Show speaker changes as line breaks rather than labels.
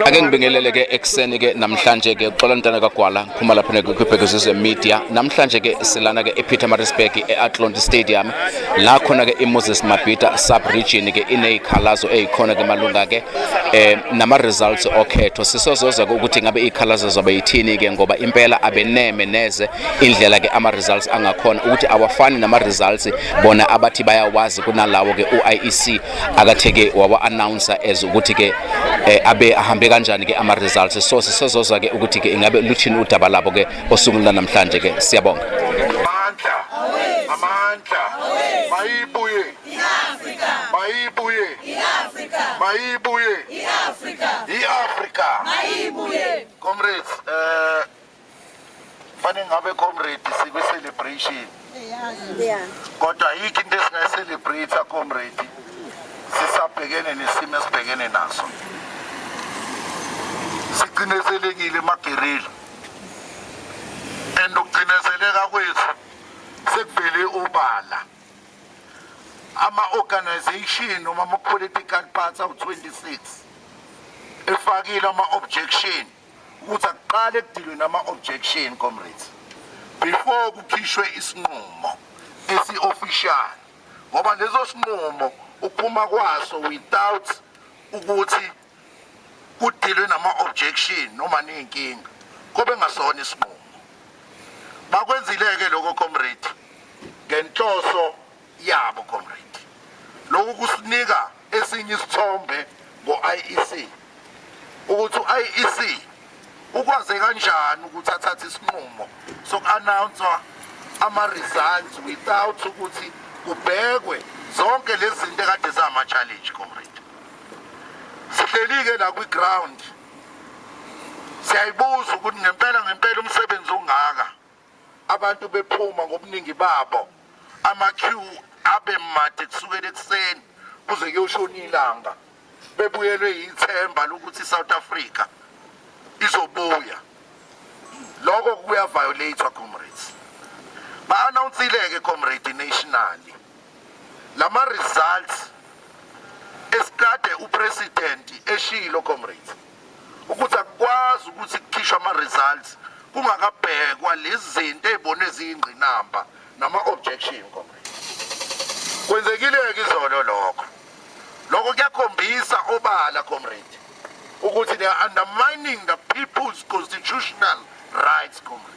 ake ngibingelele ke ekuseni ke namhlanje ke xola ntana kagwala ngiphuma lapha nekwibhekuzizwe media namhlanje ke silana ke epietermaritzburg e-atlonti stadium la khona ke iMoses Mabhida sub region ke inezikhalazo ezikhona ke malunga ke eh nama results okhetho sisozoza ukuthi ngabe izikhalazo zobe yithini ke ngoba impela abeneme neze indlela ke ama results angakhona ukuthi awafani nama results bona abathi bayawazi kunalawo ke uIEC akatheke wawa announcer as ukuthi ke eh, abe ahambe kanjani ke ama results so sisozoza ke ukuthi ke ingabe luthini udaba labo ke osukwini lanamhlanje ke siyabonga amandla
amandla mayibuye iAfrika mayibuye iAfrika mayibuye iAfrika iAfrika mayibuye comrades eh fanele ngabe comrade sikwi celebration kodwa yikho into esingayicelebrate comrade sisabhekene nesimo esibhekene naso sicindezelekile emagerila and ukucindezeleka kwethu sekuvele obala ama-organization noma ama-political party awu-26 efakile ama-objection ukuthi akuqale kudilwe nama-objection comrades before kukhishwe isinqumo esi-official ngoba leso sinqumo uphuma kwaso without ukuthi kudilwe nama-objection noma niyinkinga kobe ngasona isinqumo bakwenzile-ke lokho comrade ngenhloso yabo comrade lokhu kusinika esinye isithombe ngo-IEC ukuthi u-IEC ukwaze kanjani ukuthi athathe isinqumo soku-announsa ama-results without ukuthi kubhekwe zonke lezi zinto ekade zama-challenge comrade sihleli-ke la kwi-ground siyayibuza ukuthi ngempela ngempela umsebenzi ongaka abantu bephuma ngobuningi babo ama-queue abe made kusukela ekuseni kuze kuyoshona ilanga bebuyelwe yithemba lokuthi i-south africa izobuya lokho kuyaviolathwa comrades ba-anawunsile-ke comrade nationally lama-results esikade upresident eshilo comrades ukuthi akukwazi ukuthi kukhishwe ama-results kungakabhekwa lezi zinto ey'bone ziyingqinamba nama-objection comrade kwenzekile-ke izolo lokho lokho kuyakhombisa obala comrade ukuthi they are undermining the people's constitutional rights comrade